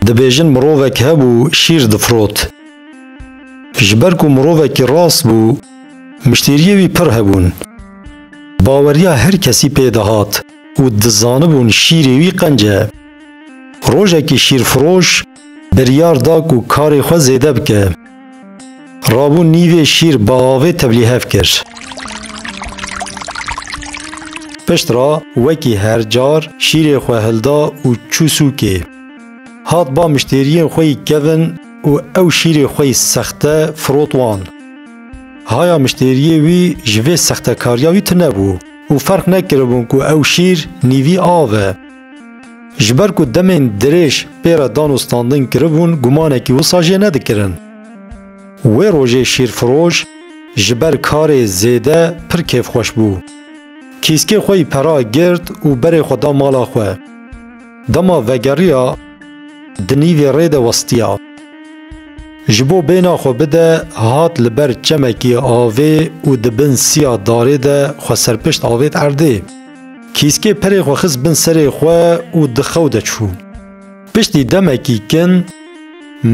Dibêjin mirovek hebû şîr difrot. Ji ber ku mirovekî rast bû, miştêriyê wî pir hebûn. Baweriya her kesî pê dihat û dizanibûn şîrê wî qenc e. Rojekî şîrfiroş Biryar da ku karê xwe zêde bike. Rabû nîvê şîr bi avê tevlî hev kir. Pişt re wekî her car şîrê xwe hilda û çû sûkê. Hat ba miştêriyên xwe yî kevin û ew şîrê xwe yî sexte firot wan. Haya miştêriyê wî ji vê sextekariya wî tune bû û ferq nekiribûn ku ew şîr nîvî av e. Ji ber ku demên dirêj pê re dan û standin kiribûn gumanekî wisa jê nedikirin. Wê rojê şîrfiroj ji ber karê zêde pir kêfxweş bû. Kîskê xwe yî pera girt û berê xwe da mala xwe. Dema vegeriya di nîvê rê de westiya. Ji bo bêhna xwe bide hat li ber çemekî avê û di bin siya darê de xwe serpişt avêt erdê. Kîskê perê xwe xist bin serê xwe û di xew de çû. Piştî demekî kin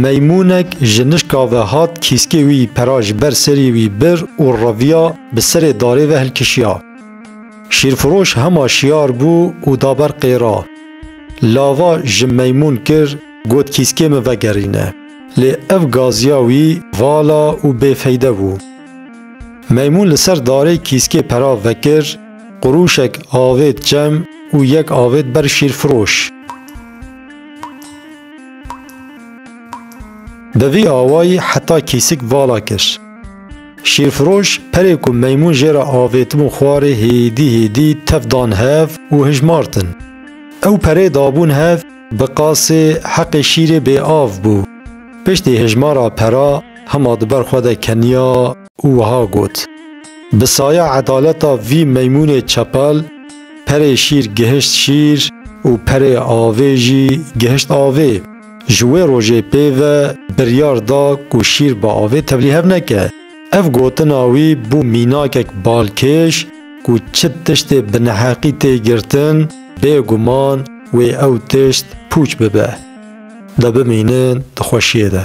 meymûnek ji nişka ve hat kîskê wî pera ji ber serî wî bir û reviya bi serê darê ve hilkişiya. Şîrfiroş hema şiyar bû û da ber qêra. Lava ji meymûn kir got kîskê min vegerîne. Lê ev gaziya wî vala û bêfeyde bû. Meymûn li ser darê kîskê pera vekir, Qurûşek avêt cem û yek avêt ber şîrfiroş. Bi vî awayî heta kîsik vala kir. Şîrfiroş perê ku meymûn jê re avêtibûn xwarê hêdî hêdî tef dan hev û hijmartin. Ew perê dabûn hev bi qasê heqê şîrê bêav bû. Piştî hijmara pera hima di ber xwe de keniya. û wiha got, Bi saya edaleta vî meymûnê çepel, perê şîr gihişt şîr û perê avê jî gihişt avê. Ji wê rojê pê ve biryar da ku şîr bi avê tevlî hev neke. Ev gotina wî bû mînakek balkêş ku çi tiştê bi neheqî tê girtin, bêguman wê ew tişt pûç bibe. De bimînin di xweşiyê de.